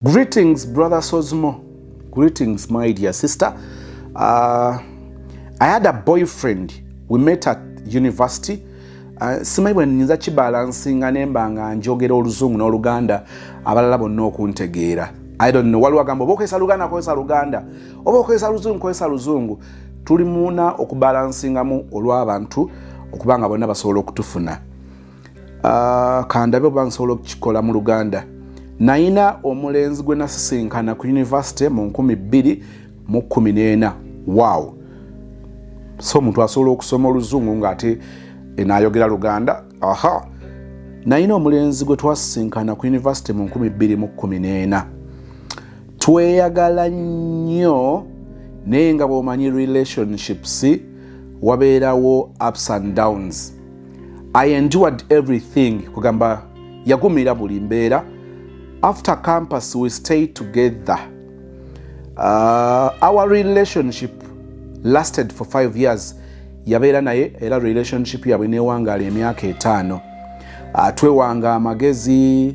Greetings brother Sozmo. Greetings my dear sister. Uh, I had a boyfriend. We met at university. Uh, simanyi bwe nyinza kibalansinga ne mba nga njogera oluzungu n'oluganda abalala bonna okuntegeera i don't know waliwo agamba oba okozesa luganda kozesa luganda oba okozesa luzungu kozesa luzungu tuli muuna okubalansingamu olw'abantu okuba nga bonna basobola okutufuna ah, kandabe oba nsobola okukikola mu luganda nayina omulenzi gwe nasisinkana ku univesity mu 214 waw so omuntu asobola okusoma oluzungu ngaate enayogera luganda aha nayina omulenzi gwe twasisinkana ku univesity mu 214 tweyagala nnyo naye nga bwomanyi relationships wabeerawo ups and downs i endured everything kugamba yagumira buli mbeera after campus we stay together uh, our relationship lasted for five years yabeera naye era relationship yabwe newangaala emyaka etaano uh, twewanga amagezi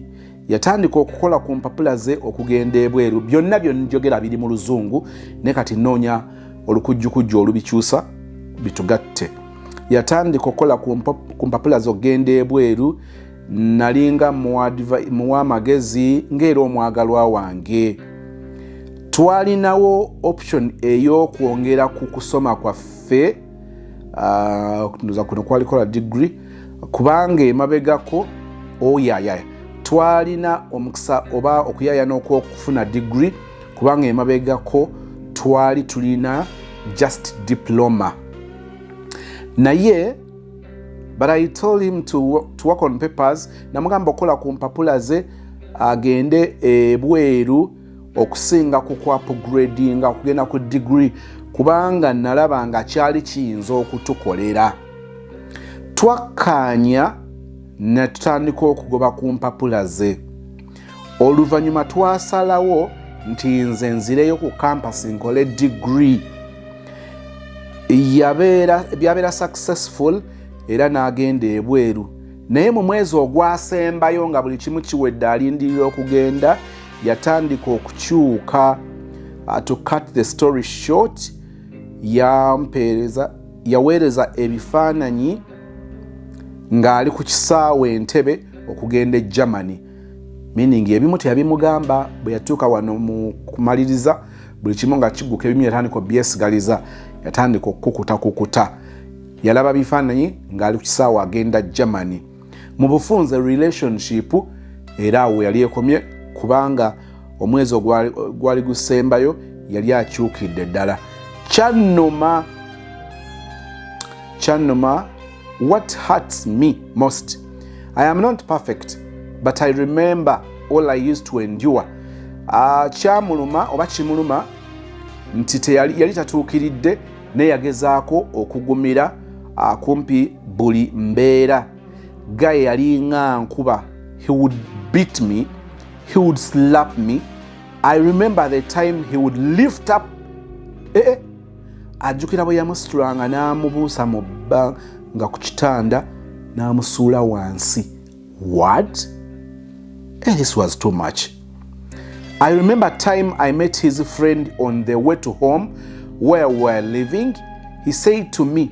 yatandika okukola ku mpapula ze okugenda ebweru byonna byonjogera biri mu luzungu ne kati noonya olukujjukujju olubikyusa bitugatte yatandika okukola ku mpapula zokugenda ebweru nalinga muwa amagezi ngaera omwagalwa wange twalinawo option eyokwongera ku kusoma kwaffe ah, nza kuno kwalikola digri kubanga emabegako oyayaya oh, twalina omukisa oba okuyaya nokwokufuna digri kubanga emabegako twali tulina just diploma naye but i told him to, to work on papers namugamba okukola ku mpapula ze agende ebweru okusinga ku kuapgradinga okugenda ku degree kubanga nalaba nga kyali kiyinza okutukolera twakkaanya netutandika okugoba ku mpapula ze oluvannyuma twasalawo nti nze nzireyo ku kampasi nkole digiri byabeera successful era n'agenda ebweru naye mu mwezi ogwasembayo nga buli kimu kiwedde alindirira okugenda yatandika okukyuka uh, to cut the story short yampeereza yaweereza ebifaananyi ng'ali ku kisaawe entebe okugenda e germany meaning ebimu teyabimugamba bwe yatuuka wano mu kumaliriza buli kimu nga kiguka ebimu yatandika obyesigaliza yatandika okukukutakukuta yalaba bifaananyi ng'ali ku kisaawe agenda germany mu bufunze relationship era awo yali ekomye kubanga omwezi ogwali gusembayo yali akyukidde ddala kyanuma kyanuma what hurts me most i am not perfect but i remember all i used to endure uh, kyamuluma oba kimuluma nti yali tatuukiridde naye yagezaako okugumira akumpi buli mbeera gaye yalinga nkuba he would beat me he would slap me i remember the time he would lift up ee eh, eh. ajjukira bwe yamusitulanga n'amubuusa mu bba nga ku kitanda n'amusuula wansi What? Hey, eh, this was too much. I remember time I met his friend on the way to home where we were living. He said to me,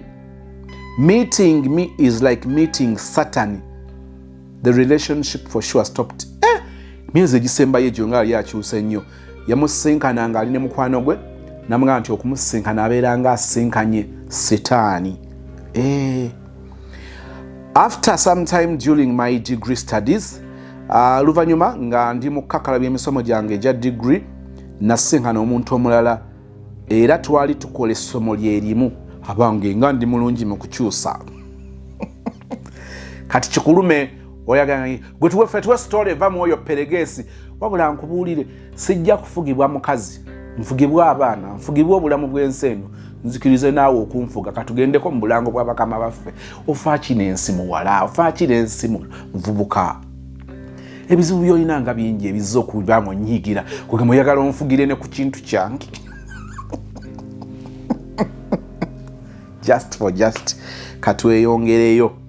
meeting me is like meeting Satan. The relationship for sure stopped. Eh, myezi egisembayo egyo nga yali akyusa ennyo yamusisinkana ng'ali ne mukwano gwe namugamba nti okumusisinkana abeera nga asisinkanye sitaani eh. after some time during my degree studies uh, luvanyuma nga ndi mu kukakala byemisomo gyange egya degree nasinkana omuntu omulala era twali tukola essomo lyerimu abange nga ndi mulungi mu kukyusa kati kikulume oyagala gwe tuwefe tuwe story va mu oyo peregesi wabula nkubuulire sijja kufugibwa mukazi nfugibwa abaana nfugibwa obulamu bw'ensi eno nzikirize naawe okunfuga katugendeko mu bulango bwa bakama baffe ofaaki n'ensi muwala ofaaki n'ensi muvubuka ebizibu byolina nga bingi ebizza okuba nga onyiigira kugamba oyagala onfugire ne ku kintu kyange just for just katweyongereyo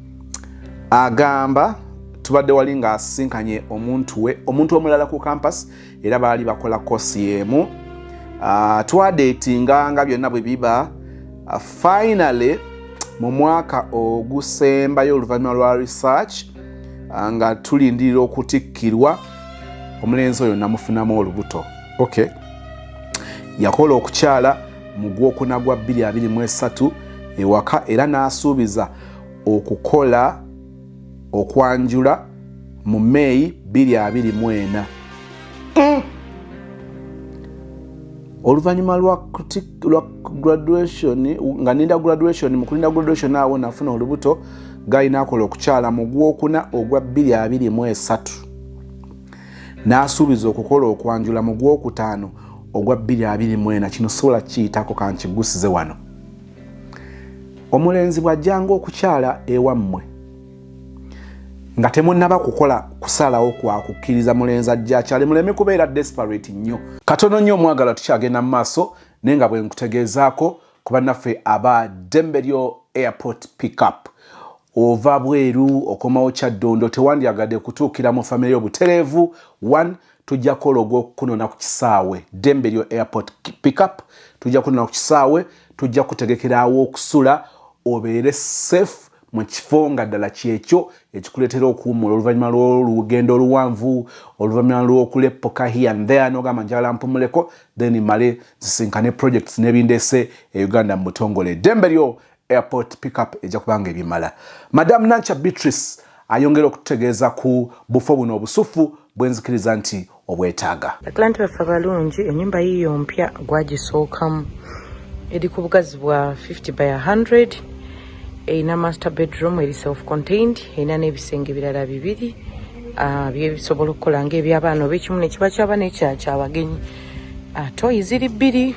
agamba tubadde wali ng'asisinkanye omuntu we omuntu omulala ku kampas era baali bakola kosi emu ah, twadeetinga nga byonna bwe biba ah, finally mu mwaka ogusembayo oluvannyuma lwa research ah, nga tulindirira okutikkirwa omulenzi oyo namufunamu olubuto okay yakola okukyala mu gwokuna gwa 223 ewaka era n'asuubiza okukola okwanjula mu meeyi 224 mm. oluvannyuma lwa graduation nga ninda graduation mukulinda graduation awo nafuna olubuto galina akola okukyala mu gwokuna ogwa 223 n'asuubiza okukola okwanjula mu gwokutaano ogwa 224 kino sobola kiyitako kankigusize wano omulenzi bw'ajjanga okukyala ewammwe nga temunnaba kukola kusalawo kwa kukkiriza mulenzi ajja akyale muleme kubeera desperate nnyo katono nnyo omwagala tukyagenda mu maaso naye nga bwe nkutegeezaako ku bannaffe aba dembelyo airport pickup ova bweru okomawo kyaddondo tewandyagadde kutuukira mu famire y'obutereevu 1 tujja kukola ogwokunona ku kisaawe dembe lyo airport pickup tujja kunona ku kisaawe tujja kutegekerawo okusula obeere safe mu kifo nga ddala kyekyo ekikuleetera okuwummula oluvannyuma lw'olugendo oluwanvu oluvannyuma lw'okuleppoka here and there nogamba njagala mpumuleko then male zisinkane projects nebindeese e uganda mu butongole dembe lyo airport pickup ejja kubanga ebimala. Madam Nankya Beatrice ayongera okututegeeza ku bufo buno obusuffu bwenzikiriza nti obwetaaga. Atlanti baffe abalungi enyumba yiyo mpya gwagisookamu eri ku bugazi bwa 50 by 100 erina master bedroom eri self contained erina n'ebisenge birala bibiri ah, byebisobola okukola ngaebyabaana oba ekimu nekiba kyaba nekyakyabagenyi ah, toyi ziri bbiri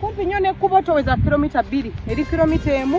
kumpi nnyo nekkubo toweza kilomita bbiri eri kilomita emu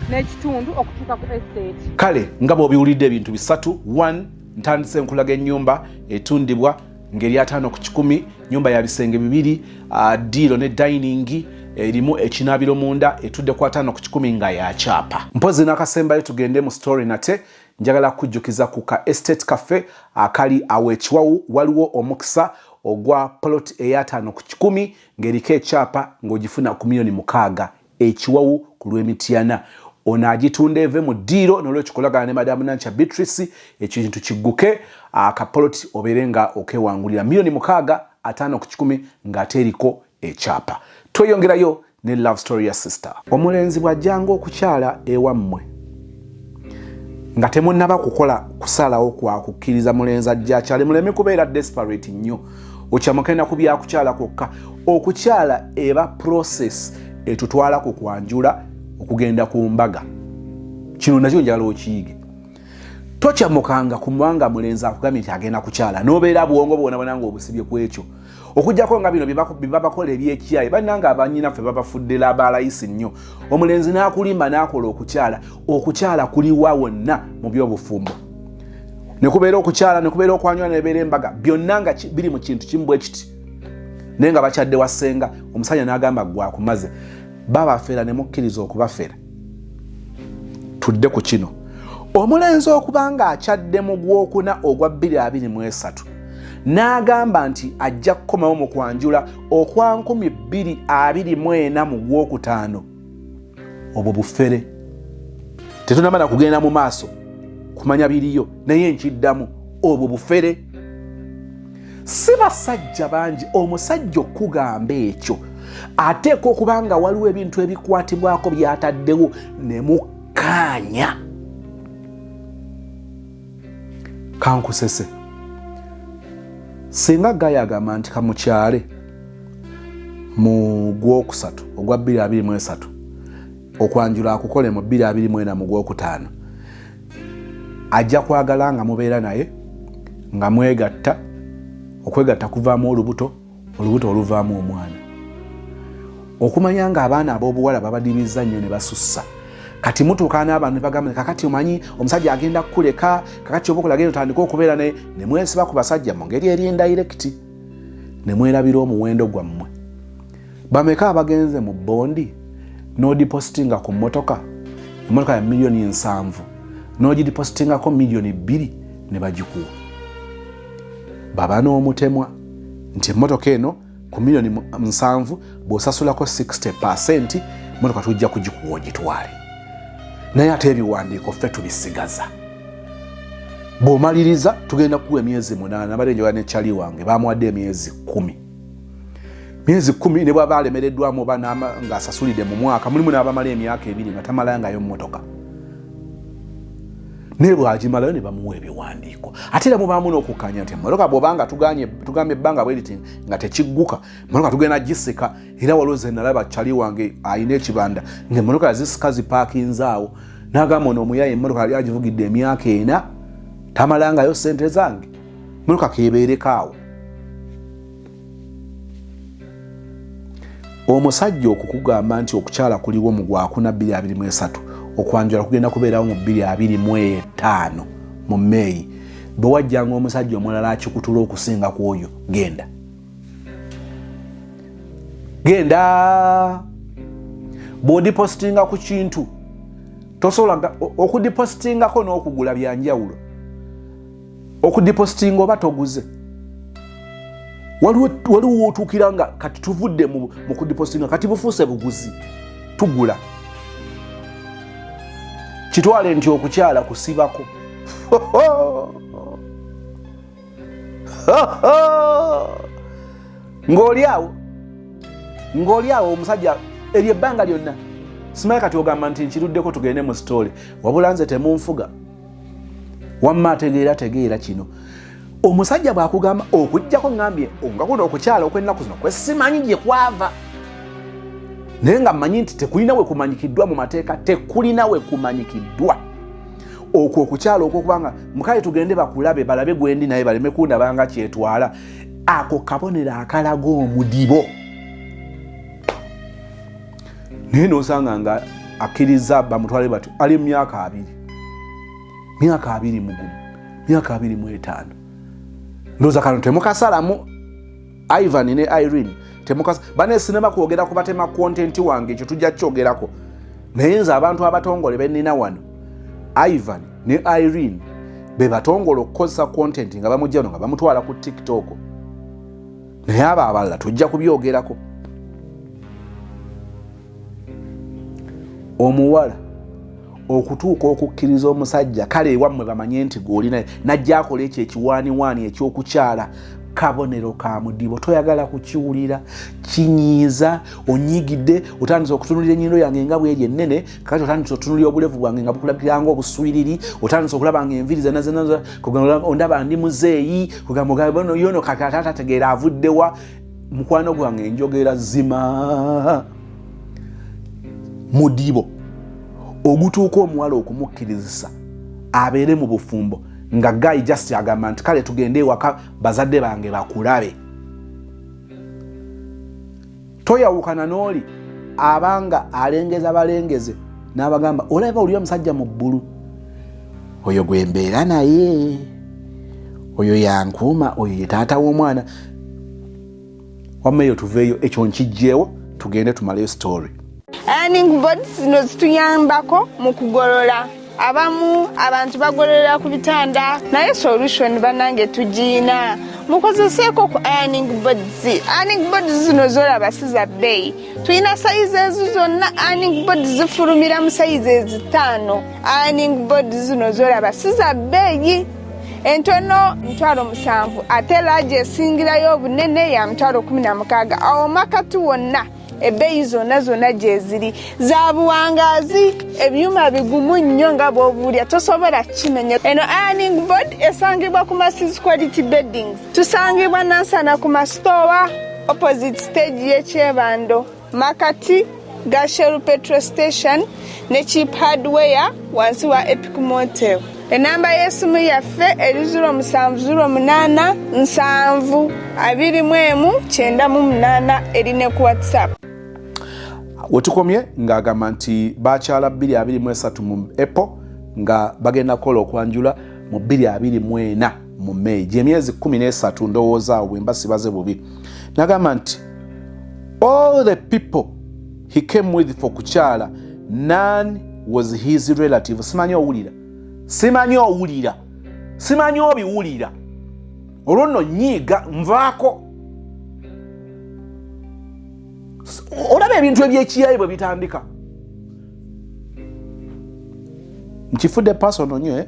n'ekitundu okutuuka ku estate kale nga bw'obiwulidde ebintu bisatu 1 ntandise enkulaga ennyumba etundibwa ngeri ataano ku kikumi nyumba ya bisenge bibiri uh, diiro ne dayiningi erimu ekinaabiro munda etudde ku ataano ku kikumi nga ya kyapa mpozi n'akasembayo tugende mu story nate njagala kujjukiza ku ka estate cafe akali awo ekiwawu waliwo omukisa ogwa polot eyataano ku kikumi ng'eriko ekyapa ng'ogifuna ku miliyoni mukaaga ekiwawu ku lw'emityana ono agitunda eve mu ddiiro nolwekyo kolagana ne madamu nankya beatrice ekintu kigguke akapoloti obeere nga okewangulira miliyoni mukaaga ataano ku kikumi ng'ate eriko ekyapa tweyongerayo ne love story ya sister omulenzi bw'ajjanga okukyala ewammwe nga temunnaba kukola kusalawo kwa kukkiriza mulenzi ajja akyale muleme kubeera desperate nnyo okyamukenda ku byakukyala kwokka okukyala eba process etutwala ku kwanjula okugenda ku mbaga kino nakyo njala okiyige tokyamukanga kumubanga mulenzi akugambye nti agenda kukyala nobeera bwongo bwonabona nga obusibye ku ekyo okujjako nga bino byebabakola ebyekiyaye bananga abanyinaffe babafuddela abalayisi nnyo omulenzi n'akulimba n'akola okukyala okukyala kuliwa wonna mu byobufumbo nekubeera okukyala nekubeera okwanywala nebeera embaga byonna nga biri mu kintu kimu bwekiti naye nga bakyadde wasenga omusajja nagamba gwakumaze babafera nemukkiriza okubafera tudde ku kino omulenzi okuba nga akyadde mu gwokuna ogwa 223 n'agamba nti ajja kukomawo mu kwanjula okwa 224 mu gwokutaano obwo bufere tetunamala kugenda mu maaso kumanya biriyo naye nkiddamu obwo bufere si basajja bangi omusajja okugamba ekyo ateeka okuba nga waliwo ebintu ebikwatibwako byataddewo ne mukkaanya kankusese singa gaya agamba nti kamukyale mu gwokusatu ogwa 223 okwanjula akukole mu 224 mu gwokutaano ajja kwagala nga mubeera naye nga mwegatta okwegatta kuvaamu olubuto olubuto oluvaamu omwana okumanya nga abaana abobuwala babadibizza nnyo ne basussa kati mutuuka n'abantu ne bagamba kakati omanyi omusajja agenda kukuleka kakati oba okulagenda otandika okubeera ne ne mwesiba ku basajja mu ngeri eri endayirekiti ne mwerabira omuwendo gwammwe bameka abagenze mu bondi n'odipositinga ku mmotoka emmotoka ya miliyoni nsanvu n'ogidipositingako miliyoni bbiri ne bagikuwa baba n'omutemwa nti emmotoka eno ku miliyoni nsanvu bw'osasulako 60 pasenti motoka tujja kugikuwa ogitwale naye ate ebiwandiiko ffe tubisigaza bw'omaliriza tugenda kuwa emyezi munaana bade njoga ne cali wange bamuwadde emyezi kumi myezi kumi ne bwaba alemereddwamu oba ng'asasulidde mu mwaka mulimu n'abamala emyaka ebiri nga tamalayangayo mmotoka naye bwagimalayo ne bamuwa ebiwandiiko ate era mubaamu n'okukkaanya nti emmotoka bwobanga tugambye ebbanga bweriti nga tekigguka emmotoka tugenda gisika era waliwo ze nalaba cali wange alina ekibanda ngaemmotoka yazisika zipaakinzaawo nagamba ono omuyaye emmotoka yali agivugidde emyaka ena tamalangayo sente zange emmotoka kebeerekaawo omusajja okukugamba nti okukyala kuliwo mu gwakuna 223 okwanjula kugenda kubeerawo mu 225 mu meeyi bwe wajjanga omusajja omulala akikutula okusinga ku oyo genda genda bw'odipositinga ku kintu tosobola okudipositingako n'okugula byanjawulo okudipositinga oba toguze waliwo wotuukira nga kati tuvudde mu kudipositinga kati bufuuse buguzi tugula kitwale nti okukyala kusibako ng'oli awo ng'oli awo omusajja eryo ebbanga lyonna simaye kati ogamba nti nkiruddeko tugende mu sitoole wabula nze temunfuga wamma ategeera tegeera kino omusajja bwakugamba okujjako ŋambye nga kuno okukyala okwennaku zino kwesimanyi gye kwava naye nga mmanyi nti tekulina we kumanyikiddwa mu mateeka tekulina we kumanyikiddwa okwo okukyala okwokubanga mukale tugende bakulabe balabe gwendi naye baleme kundabanga kyetwala ako kabonero akalaga omudibo naye nosanga nga akkiriza bamutwale batyo ali mumyaka abiri myaka abiri mugumu myaka abiri mwetaano ndoza kano temukasalamu ivan ne irene temukas bane sinema kwogera ku batema content wange ekyo tujja kyogerako naye nze abantu abatongole benina wano ivan ne irene bebatongole okukozesa content nga bamujjano nga bamutwala ku tiktok naye abo abalala tujja kubyogerako omuwala okutuuka okukkiriza omusajja kale ewammwe bamanye nti gweolina najja akola ekyo ekiwaaniwaani ekyokukyala kabonero ka mudibo toyagala kukiwulira kinyiiza onyigidde otandisa okutunulira enyindo yange nga bweri ennene kati otandise otunulira obulevu bwange nga bukulabikiranga obuswiriri otandise okulaba nga enviri zenazenaondaba ndi muzeeyi kugambayono kati ate atategeera avuddewa mukwano gwange enjogera zima mudibo ogutuuka omuwala okumukkirizisa abeere mu bufumbo nga gayi just agamba nti kale tugende ewaka bazadde bange bakulabe toyawukana n'oli abanga alengeza balengeze n'abagamba olaba oli omusajja mu bbulu oyo gwe mbeera naye oyo yankuuma oyo ye taata w'omwana wamma eyo tuveeyo ekyo nkijjeewo tugende tumaleyo story earning boards zino zituyambako mu kugolola abamu abantu bagololera ku bitanda naye solution banange tugiyina mukozeseeko ku ironing boards ironing boards zino zolaba si za bbeeyi tulina sayizi ezo zonna ironing boards zifulumira mu sayizi ezitaano ironing boards zino zolaba si za bbeeyi entono mutwalo musanvu ate laaji esingirayo obunene ya mutwalo kumi na mukaaga awo makati wonna ebbeeyi zonna zonna gyeziri za buwangaazi ebyuma bigumu nnyo nga bwobuulya tosobola kukimenya eno ironing board esangibwa ku masis quality beddings tusangibwa nansana ku masitoowa opposite stage y'ekyebando makati gashel petro station ne chip hardware wansi wa epic motel enamba y'esimu yaffe eri 0778 eri ne ku whatsapp wetukomye ng'agamba nti bakyala 223 mu apple nga bagenda kukola okwanjula mu 224 mu meyi gyemyezi 13 ndowooza awo bwemba sibaze bubi nagamba nti all the people he came with for kukyala nan was his relative simanyi owulira simanyi owulira simanyi obiwulira olwo nno nyiiga nvaako olaba ebintu ebyekiyayi bwe bitandika nkifudde pasono nyo eh?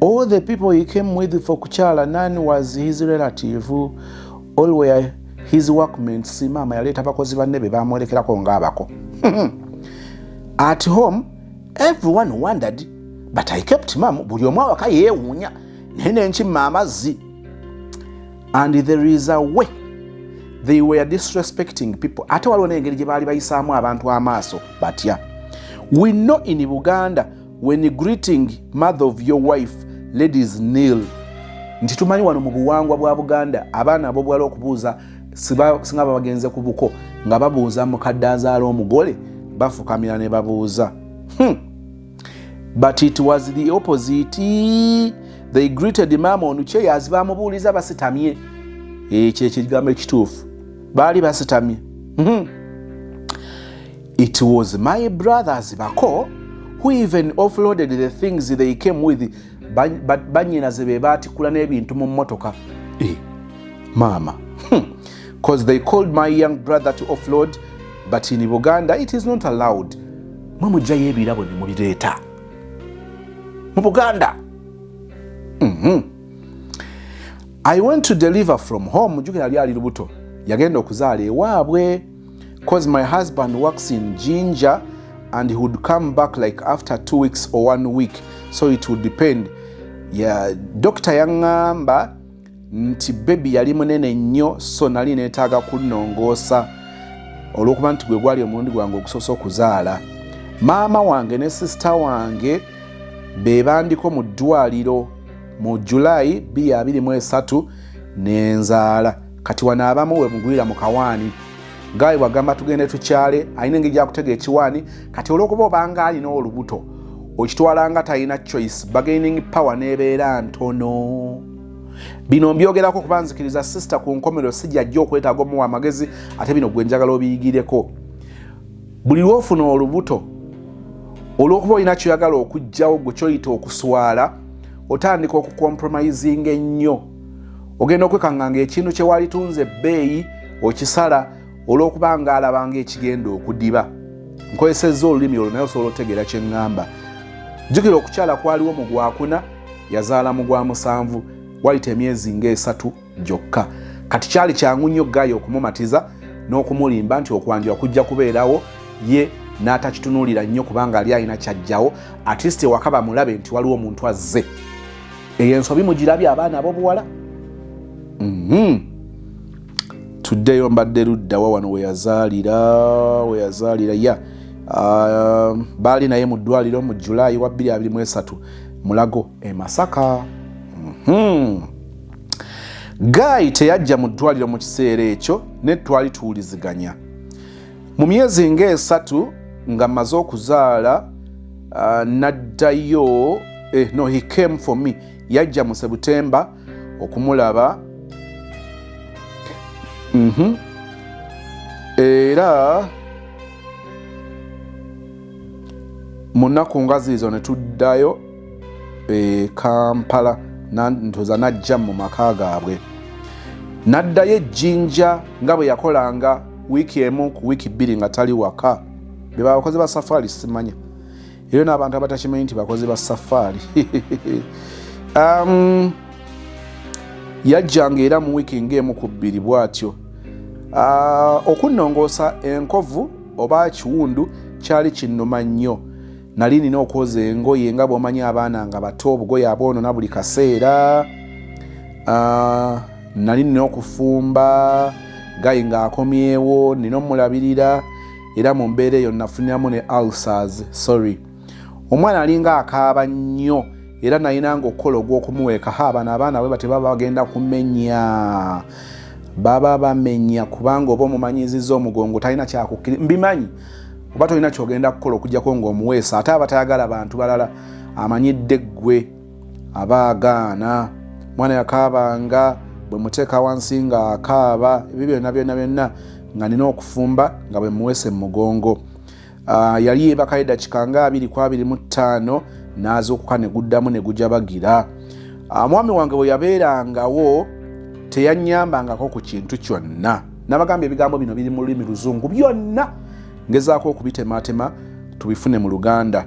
All the people he came with for kukyala, none was his relative. All were his workmates. Maama yaleeta bakozi banne be baamwolekerako ng'abako. At home, everyone wondered, but I kept mum. Buli omu awaka yeewuunya naye ne nkimma amazzi. And there is a way they were disrespecting people. Ate waliwo n'engeri gye baali bayisaamu abantu amaaso batya. We know in Buganda when greeting mother of your wife ladies nil nti tumanyi wano mu buwangwa bwa buganda abaana abobwala okubuuza singa babagenze ku buko nga babuuza mukadde azaala omugole bafukamira ne babuuza hmm. but it was the opposite they greeted mama onucheyazi bamubuuliza basitamye ekyo eh, ekigambo ekituufu baali basitamye hmm. It was my brothers bako who even offloaded the things they came with banyinaze be baatikula n'ebintu mu mmotoka eh, maama bcause hmm. they called my young brother to offload but in buganda it is not allowed mwe mujjayo ebirabo ne mubireeta mu buganda mm-hmm. i went to deliver from home jukira lyali lubuto yagenda okuzaala ewaabwe cause my husband works in ginger and he would come back like after two weeks or one week so it would depend yeah, dokita yaŋŋamba nti bebi yali munene nnyo so nali neetaaga kunnongoosa olw'okuba nti gwe gwali omulundi gwange ogusoosa okuzaala maama wange ne sisita wange be bandiko mu ddwaliro mu julayi 23 ne nzaala kati wano abamu wemugwira mu kawaani gaayi wagamba tugende tukyale alina engeri gyakutegeera ekiwaani kati olwokuba obanga alina olubuto okitwala nga talina choice bagaining power nebeera ntono bino mbyogerako kuba nzikiriza sister ku nkomero sijajja okwetaaga omuwa amagezi ate bino gwenjagala obiyigireko buli lwofuna olubuto olwokuba olina kyoyagala okugjawo gwe kyoyita okuswala otandika okucompromising ennyo ogenda okwekanga nga ekintu kyewalitunze ebbeeyi okisala olwokuba nga alaba nga ekigenda okudiba nkozesezza olulimi olwo naye osobola otegeera kyeŋŋamba jjukira okukyala kwaliwo mu gwakuna yazaala mu gwa musanvu wayita emyezi ngaesatu gyokka kati kyali kyangu nnyo gaaya okumumatiza n'okumulimba nti okwanjula kujja kubeerawo ye n'atakitunuulira nnyo kubanga ali alina kyajjawo atleast ewaka bamulabe nti waliwo omuntu azze eyo ensobi mugirabye abaana abobuwala mhm. tuddeyo mbadde luddawa wano weyazaalira weyazaalira ya ah, baali naye mu ddwaliro mu julayi wa 223 mulago e masaka mhm. gaayi teyajja mu ddwaliro mu kiseera ekyo ne twali tuwuliziganya mu myezi ng'esatu nga mmaze okuzaala uh, naddayo eh, no he came for me yajja mu sebutemba okumulaba mm -hmm. era mu nnaku ngazi izo ne tuddayo e kampala ntuza najja mu maka gaabwe naddayo ejjinja nga bwe yakolanga wiiki emu ku wiiki bbiri nga tali waka be babakozi ba safaari simanya era n'abantu abatakimanyi nti bakozi ba safaari um, yajjanga era mu wiiki ng'emu ku bbiri bw'atyo uh, okunnongoosa enkovu oba kiwundu kyali kinnuma nnyo nali nina okwoza engoye nga bwomanyi abaana nga bato obugoye abwonona buli kaseera ah, nali nina okufumba gayi ngaakomyewo nina omulabirira era mu mbeera eyo nafuniramu ne ulcers sorry omwana alinga akaaba nnyo era nalina nga okukola ogw'okumuweeka ha abana abaana bwe batebaba bagenda kumenya baba bamenya kubanga oba omumanyiziza omugongo talina kyakukkiri mbimanyi oba tolina kyogenda kukola okujjako ngaomuweesa ate aba tayagala bantu balala amanyidde ggwe aba agaana mwana yakaabanga bwe muteeka wansi nga akaaba ebyo byonna byonna byonna nga nina okufumba nga bwe muweese mu mugongo ah, yali yeebakayo eddakika nga abiri ku abiri mu ttaano n'azuukuka ne guddamu ne gujabagira ah, mwami wange bwe yabeerangawo teyannyambangako ku kintu kyonna nabagamba ebigambo bino biri mu lulimi luzungu byonna ngezaako okubitematema tubifune mu luganda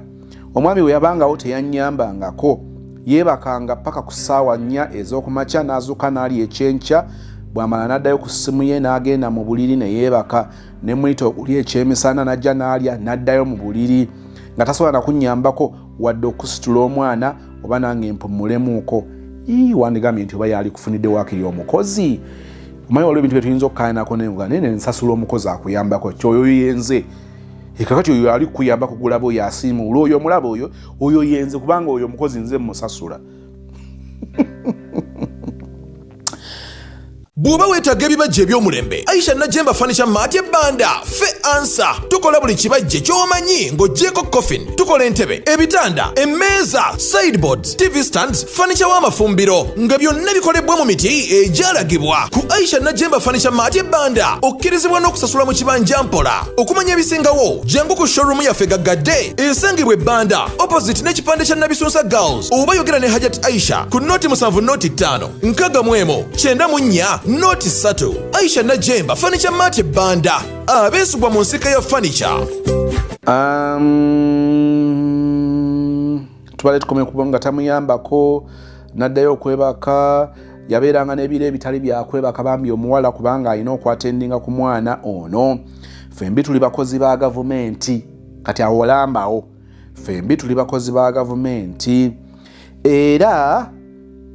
omwami we yabangawo teyanyambangako yeebakanga paka ku ssaawa nnya ez'okumakya n'azuuka n'ali ekyenkya bw'amala n'addayo ku ssimu ye n'agenda mu buliri ne yeebaka ne muyita okulya ekyemisana n'ajja n'alya n'addayo mu buliri nga tasobola nakunnyambako wadde okusitula omwana oba nange mpumulemuuko ii wandigambye nti oba yali kufunidde wakiri omukozi omanyi waliwo ebintu byetuyinza okukayanako nenga naye nensasula omukozi akuyambako kyoyo yenze ekakati oyo ali kukuyamba kugulaba oyo asiimuula oyo omulaba oyo oyo yenze kubanga oyo omukozi nze musasula bw'oba weetaaga ebibajje eby'omulembe aisha najemba fanica maati ebbanda fe ansa tukola buli kibajje ky'omanyi ng'ogyeko coffin tukola entebe ebitanda emmeeza sideboards tv stands fanica w'amafumbiro nga byonna bikolebwa mu miti egyalagibwa ku aisha najemba fanica maati ebbanda okkirizibwa n'okusasula mu kibanja mpola okumanya ebisingawo jangu ku showroom yaffe gaggadde esangibwa ebbanda opposite n'ekipande kya nabisunsa girls oba yogera ne hajati aisha ku noti musanvu noti ttaano nkaga mu emu kyenda mu nnya noti ssatu aisha najemba fanica maate banda abeesugwa mu nsika ya fanica um, tubale tukomye kuba nga tamuyambako naddayo okwebaka yabeeranga n'ebiro ebitali byakwebaka bambi omuwala kubanga alina okwatendinga ku mwana ono fembi tuli bakozi ba gavumenti kati awolambawo fembi tuli bakozi ba gavumenti era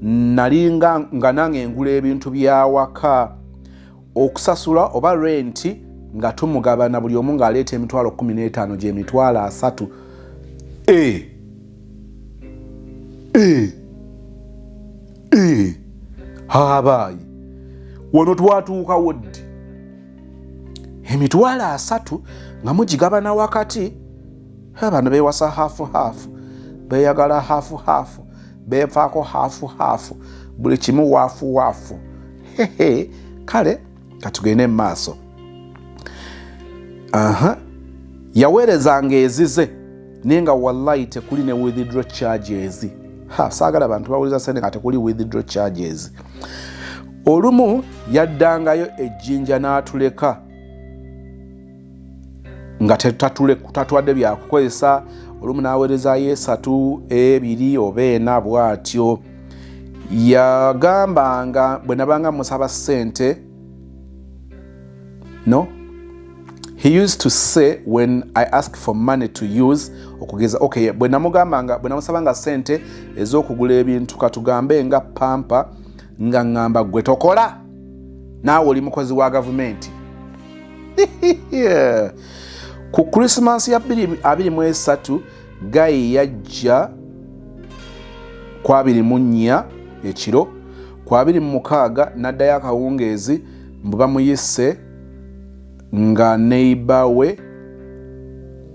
nali nga nange engula ebintu byawaka okusasula oba renti nga tumugabana buli omu ng'aleeta emitwalo 15 gyemitwalo asatu e e e habaayi wano twatuukawo ddi emitwalo asatu nga mugigabana wakati abantu bewasa hafu hafu beyagala hafu hafu bevaako hafu hafu buli kimu wafu wafu hehe kale katugende mu maaso aha yaweerezanga ezize naye nga wallahi tekuli ne withdraw charges ha saagala bantu bawuliza sente nga tekuli withdraw charges olumu yaddangayo ejjinja n'atuleka nga tatwadde byakukozesa olumu n'aweerezayo esatu ebiri oba ena bw'atyo yagambanga bwe nabanga musaba ssente no he used to say when i ask for money to use okugeza okay bwe namugambanga bwe namusabanga sente ez'okugula ebintu katugambe nga pampa nga ŋŋamba gwe tokola naawe oli mukozi wa gavumenti ku krisimansi ya 23 gayi yajja ku abiri mu nnya ekiro ku abiri mu mukaaga n'addayo akawungeezi mbu bamuyise nga neiba we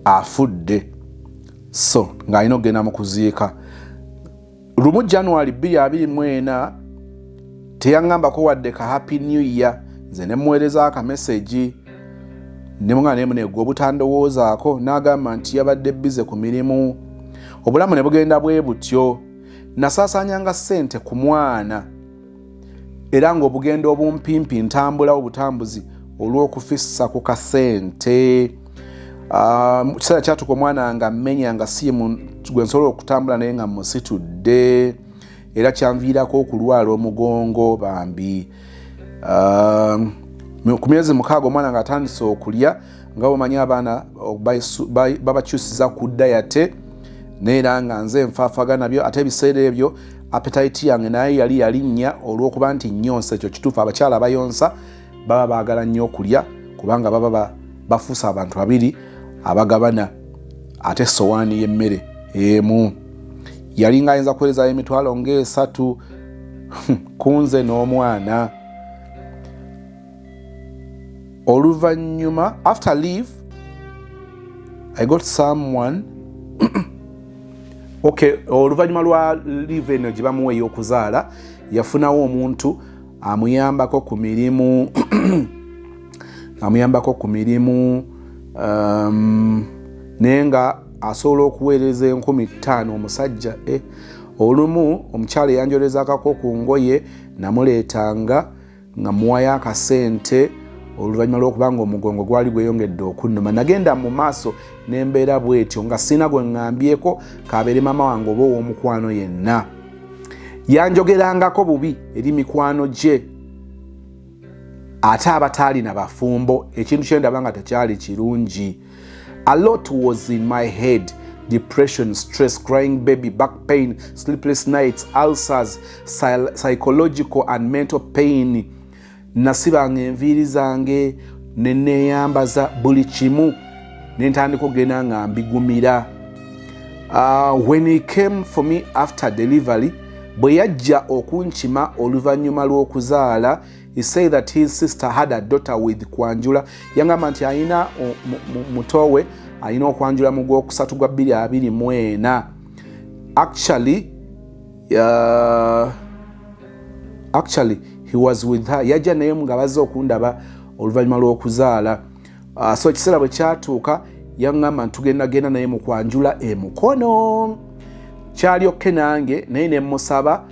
afudde so ng'alina okugenda mu kuziika lumu january 224 teyaŋambako wadde ka happy new year nze nemuweereza akamesegi nemwana nemuneegwa obutandowoozaako n'agamba nti yabadde bize ku mirimu obulamu ne bugenda bwe butyo nasaasaanyanga ssente ku mwana era ng'obugendo obumpimpi ntambula obutambuzi olw'okufissa ku kasente ah, mu kiseera kyatuka omwana nga mmenya nga siimu gwe nsobola okutambula naye nga musitudde era kyanviirako okulwala omugongo bambi ah, ku myezi mukaaga omwana ng'atandise okulya nga bwemanyi abaana babakyusiza ku dayate naye era nga nze nfaafaga nabyo ate ebiseera ebyo apetayiti yange naye yali yalinnya olw'okuba nti nyonsa ekyo kituufu abakyala abayonsa baba baagala nnyo okulya kubanga baba bafuusa abantu babiri abagabana ate sowaani y'emmere emu yali nga ayinza kuwerezayo emitwalo ng'esatu kunze n'omwana oluvannyuma after leave i got someone okay oluvannyuma lwa leave eno gye bamuwa ey'okuzaala yafunawo omuntu amuyambako ku mirimu amuyambako ku mirimu um, naye nga asobola okuweereza enkumi ttaano omusajja eh, olumu omukyala eyanjolezakako ku ngoye namuleetanga nga muwayo akasente oluvannyuma lw'okuba nga omugongo gwali gweyongedde okunnuma nagenda mu maaso nembeera bwetyo nga sirina gwe ŋŋambyeko kabeere maama wange oba ow'omukwano yenna yanjogerangako bubi eri mikwano gye ate abataalina bafumbo ekintu kyendaba nga tekyali kirungi A lot was in my head depression, stress, crying baby, back pain, sleepless nights, ulcers, psychological and mental pain. Nasibanga enviiri zange ne neeyambaza buli kimu ne ntandika okugenda nga mbigumira. Uh, when he came for me after delivery bwe yajja okunkima oluvannyuma lw'okuzaala he say that his sister had a daughter with kwanjula yangamba nti alina muto we alina okwanjula mu gwokusatu gwa 224 actually uh, actually he was with her yajja naye nga bazze okundaba oluvannyuma lw'okuzaala uh, so ekiseera bwe kyatuuka yaŋŋamba nti tugenda genda naye mu kwanjula e mukono kyali okke nange naye ne mmusaba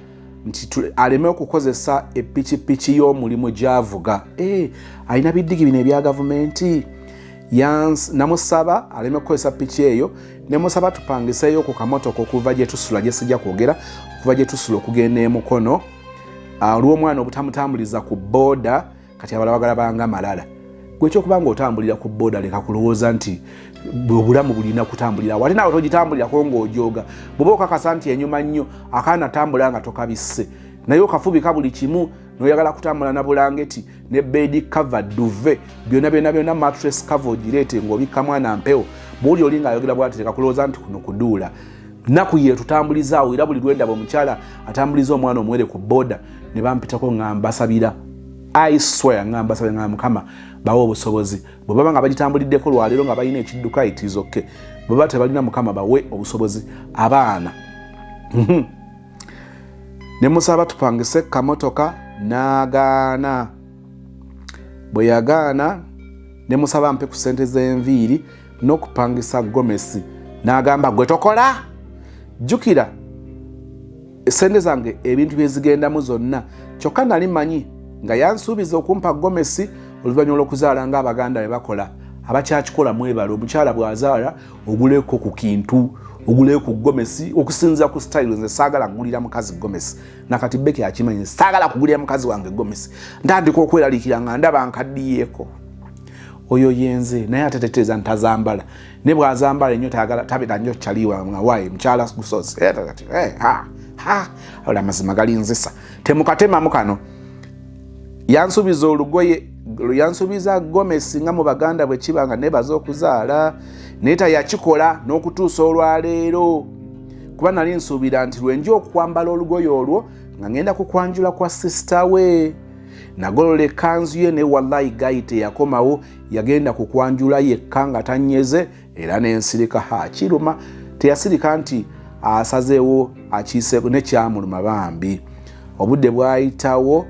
nti aleme okukozesa epikipiki y'omulimu gyavuga eh, alina biddigi bino ebya gavumenti namusaba aleme kukozesa piki eyo nemusaba tupangiseeyo ku kamotoka okuva gyetusula gyesijja kwogera okuva gyetusula okugenda emukono olw'omwana ah, obutamutambuliza ku booda kati abala bagala banga malala gwekyokuba nga otambulira ku boda leka kulowooza nti obulamu bulina kutambulira wate nawe togitambulirako ngaojoga bwoba okakasa nti enyuma nnyo akaana tambula nga tokabisse naye okafubika buli kimu noyagala kutambula na bulangeti ne bedi cover duve byona byona byona matres cover ogireete ngaobikka mwana mpewo bwoli oli ngaayogera bwati leka kulowooza nti kuno kuduula nnaku yeetutambulizaawo era buli lwendaba omukyala atambuliza omwana omuwere ku boda ne bampitako nga mbasabira iswea nga mbasabira nga mukama bawa obusobozi bwe baba nga bagitambuliddeko lwaleero nga balina ekidduka itizokke bwe baba tebalina mukama bawe obusobozi abaana mhm. ne musaba tupangise kamotoka n'agaana bwe yagaana ne musaba mpe ku ssente z'enviiri n'okupangisa gomesi n'agamba gwe tokola jjukira esente zange ebintu byezigendamu zonna kyokka nali manyi nga yansuubiza okumpa gomesi oluvannyuma olwokuzaala nga abaganda be bakola abakyakikola mwebale omukyala bwazaala oguleko ku kintu oguleo ku gomesi okusinzira ku style nze saagala kugulira mukazi gomesi nakati beki akimanyi saagala kugulira mukazi wange gomesi ntandika okweralikira nga ndaba nkaddiyeeko oyo yenze naye ate teteeza ntazambala ne bwazambala enyo tayagala tabira nyo kyaliwa mwawaye mukyala gusozi eh, eh, ola amazima galinzisa temukatemamu kano yansubiza olugoye yansubiza gomesi nga mu baganda bwe kiba nga nebaza okuzaala naye tayakikola n'okutuusa olwaleero kuba nali nsuubira nti lwenja okwambala olugoye olwo nga ngenda kukwanjula kwa sisita we nagolola ekkanzu ye ne wallayi gayi teyakomawo yagenda ku kwanjula yekka nga tanyeze era nensirika ha kiruma teyasirika nti asazeewo akiiseeko nekyamuluma bambi obudde bwayitawo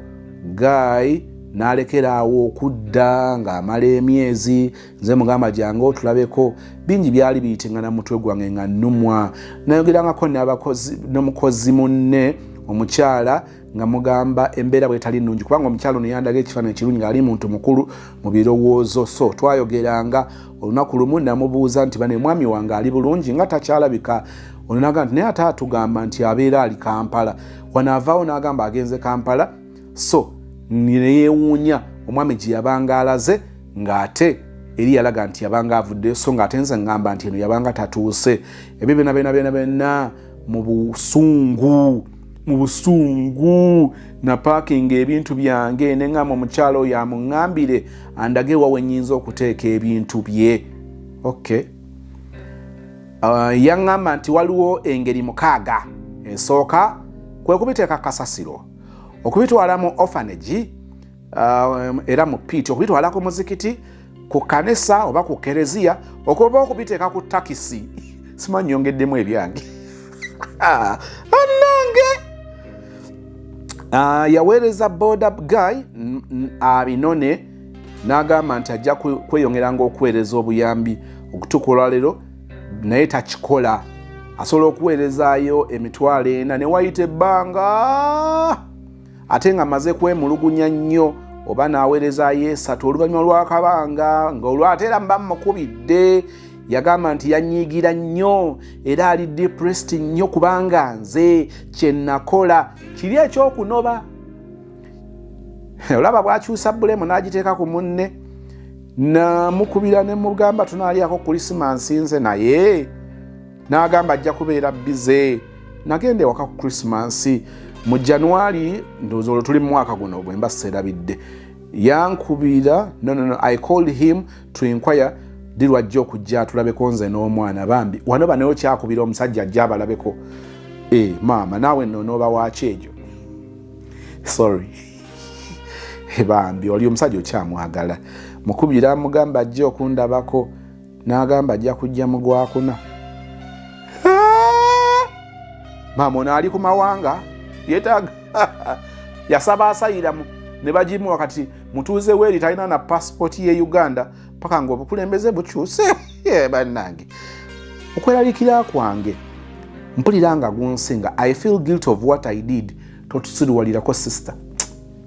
gayi nalekeraawo okudda ng'amala emyezi nze mugamba gyange otulabeko bingi byali biyitingana mutwe gwange nga nnumwa nayogerangako n'abakozi n'omukozi munne omukyala nga mugamba embeera bwetali nnungi kubanga omukyalo ono yandaga ekifaananyi kirungi ngaali muntu mukulu mu birowoozo so twayogeranga olunaku lumu namubuuza nti bane mwami wange ali bulungi nga takyalabika ononaga nti naye ate atugamba nti abeera ali kampala wanaavaawo n'agamba agenze kampala so neyewuunya omwami gye yabanga alaze ng'ate eri yalaga nti yabanga avuddeyo so ng'ate nze ngamba nti eno yabanga tatuuse ebyo byona byona byona byona mu busungu mu busungu napaakinga ebintu byange ne ŋŋamba omukyala oyo amuŋŋambire andage wa we nnyinza okuteeka ebintu bye ok uh, yaŋŋamba nti waliwo engeri mukaaga esooka kwe kubiteeka kasasiro okubitwala mu ofanegi um, era mu piiti okubitwala ku muzikiti ku kanisa oba ku kereziya okuba okubiteeka ku takisi simanyi yongeddemu ebyange anange ah, yaweereza boda guy abinone n'agamba nti ajja kweyongeranga okuweereza obuyambi okutukula leero naye takikola asobola okuweerezaayo emitwalo ena ne wayita ebbanga ate nga maze kwemulugunya nnyo oba n'aweereza yeesatu oluvannyuma lw'akabanga nga olwate era mba mukubidde yagamba nti yanyiigira nnyo era ali depressed nnyo kubanga nze kye nakola kiri ekyokunoba olaba bwakyusa bulemu n'agiteeka ku munne namukubira ne mugamba tunaalyako kulisimansi nze naye n'agamba ajja kubeera bize nagenda ewaka ku krisimansi mu january ndowooza olwo tuli mu mwaka guno bwe mba seerabidde yankubira nonono i called him to inquire di lwajja okujja atulabeko nze n'omwana bambi wano banayo kyakubira omusajja ajja abalabeko e maama naawe no nooba waaki egyo sorry bambi oli omusajja okyamwagala mukubira mugamba ajja okundabako n'agamba ajja kujja mu gwakuna maama ono ali ku mawanga yetaaga yasaba asayiramu ne bagimuwa kati mutuuze weeri talina na pasipooti ye uganda paka nga obukulembeze bukyuse bannange okweralikira kwange mpulira nga gunsinga i feel guilt of what i did totusiruwalirako sister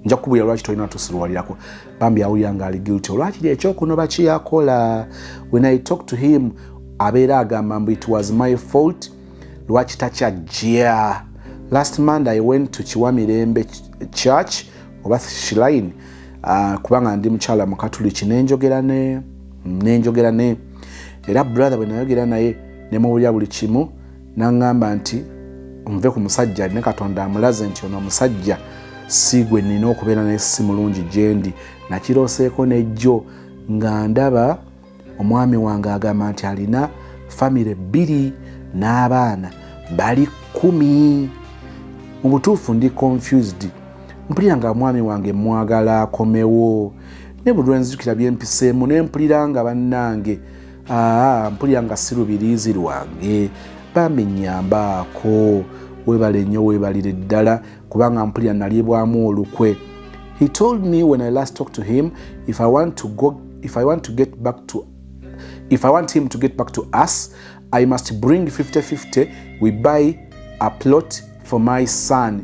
nja kukubulira lwaki tolina tusiruwalirako bambi awulira nga ali guilty olwakiri ekyokunoba kiyakola when i talk to him abeera agamba mbu it was my fault lwaki takyajja last monday i went to kiwa mirembe church oba shiline uh, kubanga ndi mukyala mukatuliki nenjogera ne nenjogera ne era brother bwenayogera naye nemubulya buli kimu N'aŋŋamba nti, Omuve ku musajja alina Katonda amulaze nti ono omusajja si gwe nnina okubeera naye si mulungi gye ndi. Nakirooseeko ne jjo nga ndaba omwami wange agamba nti alina famire bbiri n'abaana bali kkumi. Mu butuufu ndi confused. Mpulira nga omwami wange mmwagala akomewo. Ne buli lwe nzijukira bye mpiseemu ne mpulira nga bannange aa mpulira nga si lubiriizi lwange bambi nyambaako webale nnyo webalire ddala kubanga mpulira nalyebwamu olukwe he told me when i last talk to him if i want to go if i want to get back to if i want him to get back to us i must bring 5050 we buy a plot for my son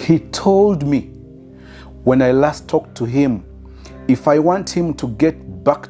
He told me when I last talked to him if I want him to get back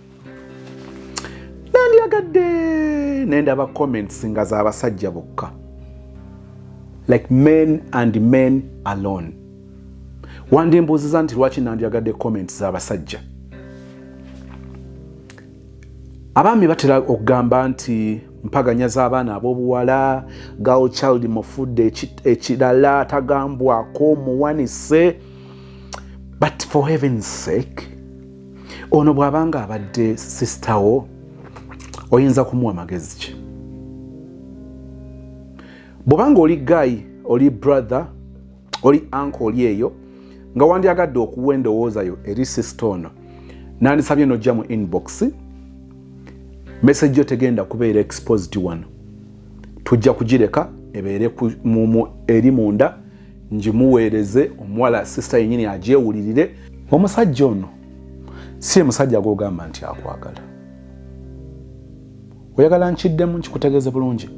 nandyagadde nendaba comments nga zabasajja bokka like men and men alone wandi mbuuziza nti lwaki nandyagadde comments zabasajja abaami batera okugamba nti mpaganya z'abaana ab'obuwala gal child mufudde ekirala tagambwako muwanise but for heaven sake ono bw'aba nga abadde sisita wo oyinza kumuwa magezi ki bw'oba nga oli gayi oli brother oli anka oli eyo nga wandyagadde okuwa endowooza yo eri sisita ono nandisabye nojja mu inbox message yo tegenda kubeera exposed wano tujja kugireka ebeere eri munda ngimuweereze omuwala sisita yenyini agyewulirire omusajja ono si ye musajja gwogamba nti akwagala oyagala nkiddemu nkikutegeeze bulungi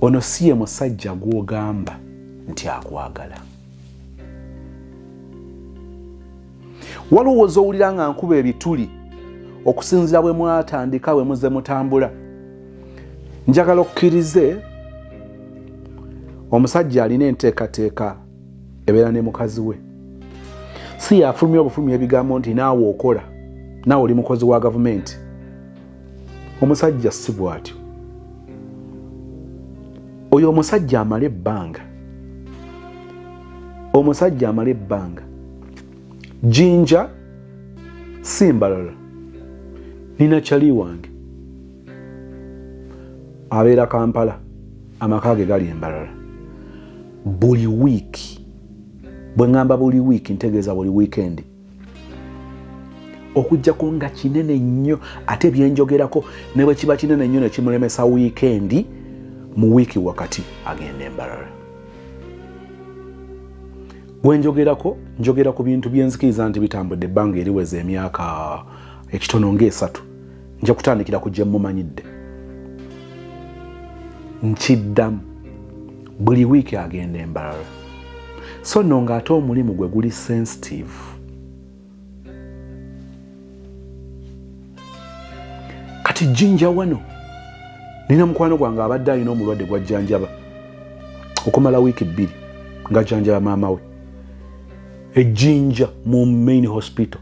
ono si ye musajja gwogamba nti akwagala waliwo wozowulira nga nkuba ebituli okusinzira bwe mwatandika bwe muze mutambula njagala okkirize omusajja alina enteekateeka ebeera ne mukazi we si yafulumya obufulumya ebigambo nti naawe okola naawe oli mukozi wa gavumenti omusajja si bwatyo oyo omusajja amala ebbanga omusajja amala ebbanga jinja simbalala nina kyali wange abeera kampala amaka ge gali embalala buli wiiki bwe ŋŋamba buli wiiki ntegeeza buli wiikendi okujjako nga kinene nnyo ate byenjogerako ne bwe kiba kinene nnyo ne kimulemesa wiikendi mu wiiki wakati agenda embalala Bwenjogerako njogera ku bintu byenzikiriza nti bitambudde ebbanga eriweza emyaka ekitono ng'esatu nja kutandikira ku gye mumanyidde nkiddamu buli wiiki agenda embalala so nno ng'ate omulimu gwe guli sensitive kati jinja wano nina mukwano gwange abadde alina omulwadde gwajjanjaba okumala wiiki bbiri ngajjanjaba maama we ejjinja mu main hospital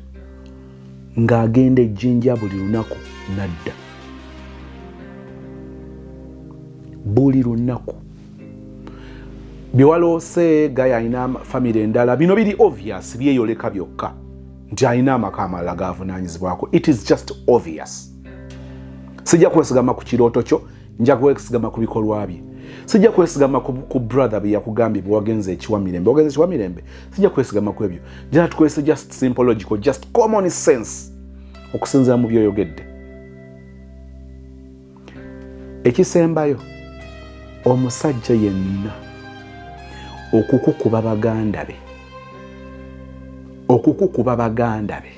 ng'agenda ejjinja buli lunaku nadda buli lunaku byewaloose gaya alina famiry endala bino biri obvious byeyoleka byokka nti alina amaka amalala gavunanyizibwako it is just obvious sijja kwesigama ku kirooto kyo nja kwesigama ku bikolwa bye sijja kwesigama ku brother byeyakugambye bwewagenza ekiwa mirembe wagenza ekiwa mirembe sijja kwesigama ku ebyo jena tukozese just simpological just common sense okusinzira mu byoyogedde ekisembayo omusajja yenna okukukuba baganda be okukukuba baganda be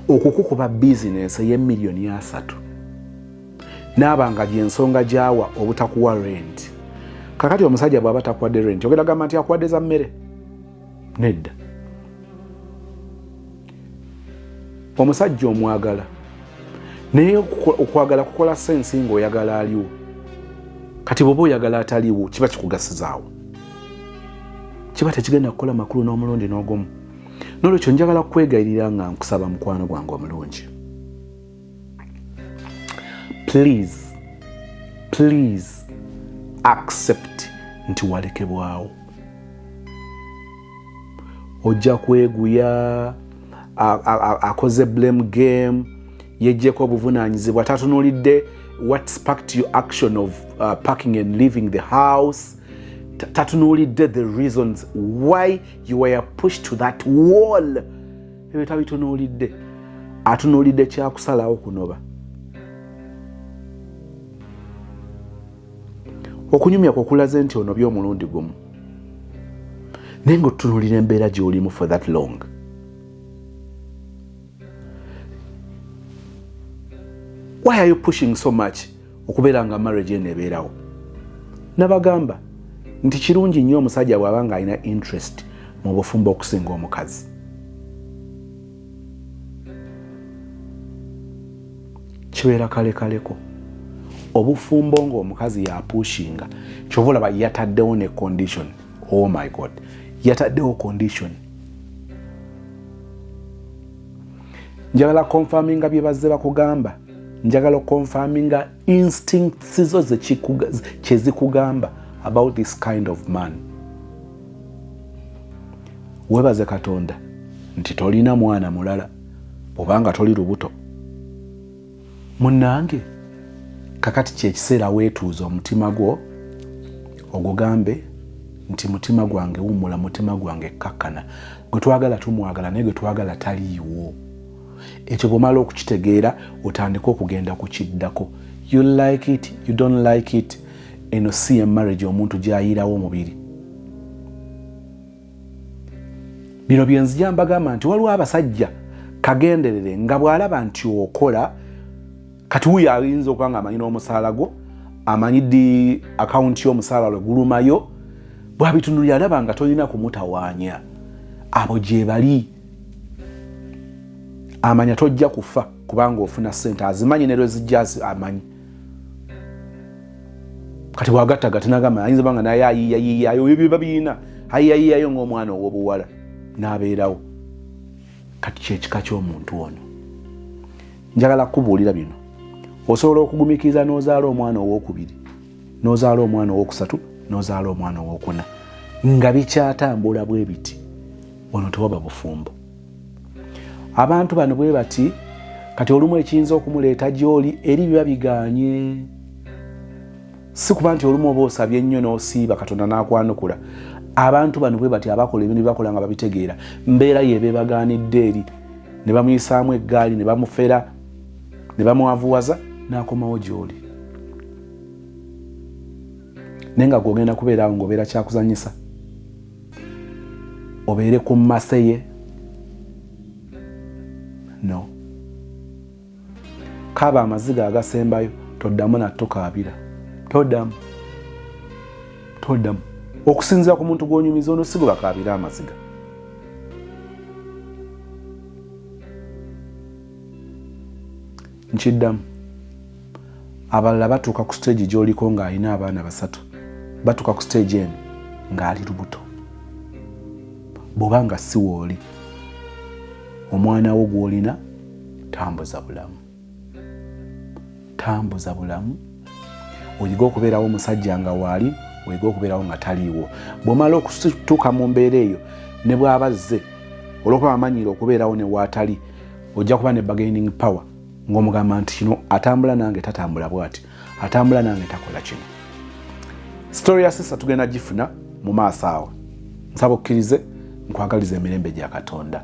okukukuba bizinensi ey'emiliyoni asatu naaba nga gyensonga gyawa obutakuwa renti kakati omusajja bwaba takuwadde renti ogenda gamba nti akuwadde za mmere nedda omusajja omwagala naye okwagala kukola sensi nga oyagala aliwo kati bwoba oyagala ataliwo kiba kikugasizaawo kiba tekigenda kukola makulu n'omulundi n'ogumu nolwekyo njagala kukwegayirira nga nkusaba mukwano gwange omulungi please please accept nti walekebwawo ojja kweguya akoze blame game yejjeko obuvunanyizibwa tatunulidde what sparked your action of uh, parking and leaving the house tatunulidde the reasons why you were pushed to that wall ebyo tabitunulidde atunulidde kyakusalawo kunoba okunyumya kwokulaze nti onobye omulundi gumu naye nga otutunulira embeera gyolimu for that long why are you pushing so much okubeera nga marriage eno ebeerawo nabagamba nti kirungi nnyo omusajja bw'aba nga alina interest mu bufumbo okusinga omukazi kibeera kalekaleko obufumbo ngaomukazi yapushinga kyova olaba yataddewo ne condition oh my god yataddewo condition njagala konfaminga bye bazze bakugamba njagala okonfaminga instincts zo kyezikugamba about this kind of man webaze katonda nti tolina mwana mulala obanga toli lubuto munange kakati kyekiseera wetuuza omutima gwo ogugambe nti mutima gwange wumula mutima gwange kkakkana gwetwagala tumwagala naye gwetwagala taliiwo ekyo bwomala okukitegeera otandika okugenda ku kiddako you like it you don't like it eno si ye marriage omuntu gyayiirawo omubiri bino byenzija mbagamba nti waliwo abasajja kagenderere nga bw'alaba nti okola kati wuyo ayinza okuba nga amanyi n'omusaala gwo amanyi di akawunti y'omusaala lwe gulumayo bwabitunulira alaba nga tolina kumutawaanya abo gyebali amanya tojja kufa kubanga ofuna sente azimanyi ne lwezijja amanyi kati bwagattaga tinagamba ayinza banga naye ayiyayiyayo ebyo biba birina ayiyayiyayo ngaomwana owobuwala nabeerawo kati kyekika kyomuntu ono njagala kukubuulira bino osobola okugumikiriza nozaala omwana owokubiri nozaala omwana owokusatu nozaala omwana owokuna nga bikyatambula bwebiti ono tewaba bufumbo abantu bano bwe bati kati olumu ekiyinza okumuleeta gy'oli eri biba biganye si kuba nti olumu oba osabye ennyo n'osiiba katonda n'akwanukula abantu bano bwe bati abakola ebintu byebakola nga babitegeera mbeera yeeba ebaganidde eri ne bamuyisaamu eggaali ne bamufera ne bamwavuwaza n'akomawo gy'oli naye nga gwogenda kubeeraawo ng'obeera kyakuzanyisa obeere ku mmase ye no kaaba amaziga agasembayo toddamu nattukaabira todamu todamu okusinzira ku muntu gwonyumiza ono si gwebakaabire amaziga nkiddamu abalala batuuka ku siteegi gyoliko ng'alina abaana basatu batuuka ku siteegi eno ng'ali lubuto bw'oba nga si wooli omwana wo gw'olina tambuza bulamu tambuza bulamu oyige okubeerawo omusajja nga waali oyige okubeerawo nga taliiwo bw'omala okutuuka mu mbeera eyo ne bw'abazze olwokuba amanyiira okubeerawo ne waatali ojja kuba ne bargaining power ng'omugamba nti kino atambula nange tatambula bwati atambula nange takola kino story ya sisa tugenda gifuna mu maaso awo nsaba okkirize nkwagaliza emirembe gya katonda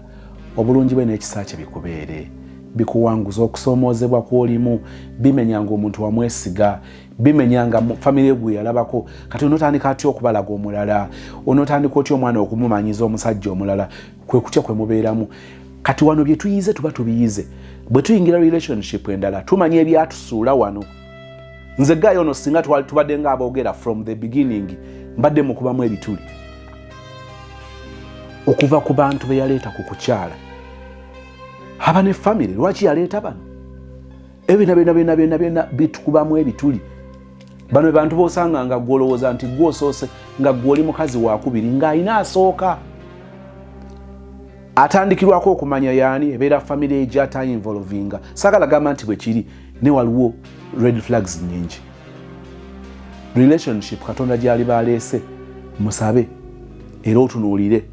obulungi bwe n'ekisa kye bikubeere bikuwanguza okusoomoozebwa kw'olimu bimenya nga omuntu wamwesiga bimenya nga famire gwe yalabako kati onotandika atya okubalaga omulala onotandika otya omwana okumumanyiza omusajja omulala kwe kutya kwe mubeeramu kati wano bye tuyize tuba tubiyize bwe tuyingira relationship endala tumanya ebyatusuula wano nze gayo ono singa twali tubadde nga aboogera from the beginning mbadde mukubamu ebituli okuva ku bantu be yaleeta ku kukyala haba ne famiry lwaki yaleeta bano ebyo byona byona byona byona byona bitukubamu ebituli bano bebantu bosanga nga gwolowooza nti gwosoose nga gwoli mukazi wakubiri ng'alina asooka atandikirwako okumanya yaani ebeera famiry egyatainvolvinga sagala gamba nti bwekiri ne waliwo red flags nyingi relationship katonda gyali baleese musabe era otunuulire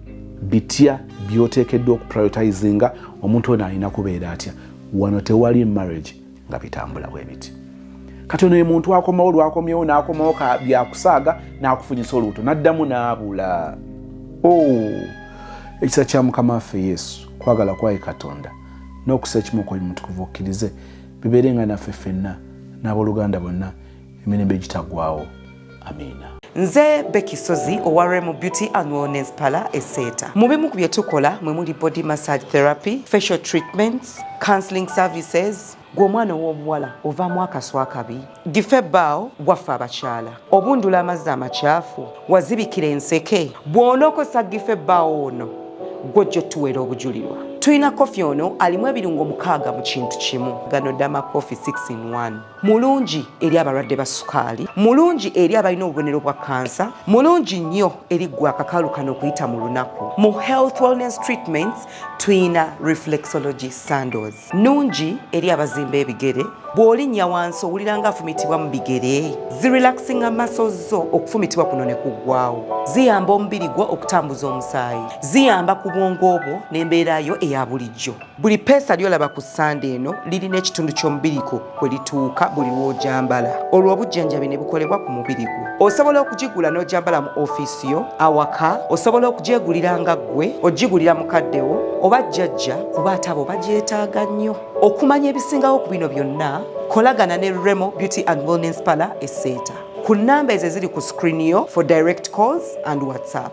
bitya byoteekeddwa okuprioritizinga omuntu ono alina kubeera atya wano tewali marriage nga bitambula bwebiti kati ono emuntu akomawo lwakomyewo nakomawo byakusaaga nakufunyisa olubuto naddamu naabula oh, ekisa kya mukama waffe yesu kwagala kwaye katonda nokusa ekimu kwoyo mutukuvu okkirize bibeere nga naffe ffenna n'aboluganda bonna emirembe egitagwawo amiina nze beki sozi owa remu beauty and wellness pala eseeta mu bimu ku bye tukola mwe muli body massage therapy facial treatments counseling services gwe omwana ow'obuwala ovaamu akaswa akabi gife ebbaawo gwaffe abakyala obundula amazzi amakyafu wazibikira enseke bw'onookozesa gife ebbaawo ono gwojja otuweera obujulirwa tulina kofi ono alimu ebirungo mukaaga mu kintu kimu gano dama kofi 6 in 1 mulungi eri abalwadde ba sukaali mulungi eri abalina obubonero bwa kansa mulungi nnyo eri gwe akakaalu kano okuyita mu lunaku mu health wellness treatments tuyina reflexology sandos nungi eri abazimba ebigere bw'olinnya wansi owulira nga afumitibwa mu bigere zirelaxinga maso zo okufumitibwa kuno ne kuggwawo ziyamba omubiri gwo okutambuza omusaayi ziyamba ku bwongo obwo n'embeera yo eya bulijjo Buli peesa lyolaba ku ssande eno lirina ekitundu ky'omubiri gwo kwe lituuka buli lw'ogyambala olwo obujjanjabi ne bukolebwa ku mubiri gwo. Osobola okugigula n'ogyambala mu ofiisi yo, awaka, osobola okugyegulira nga ggwe, ogigulira mukaddewo oba jjajja kuba ate abo bagyetaaga nnyo. Okumanya ebisingawo ku bino byonna, kolagana ne Remo Beauty and Wellness Parlour e Seeta ku nnamba ezo eziri ku screen yo for direct calls and WhatsApp.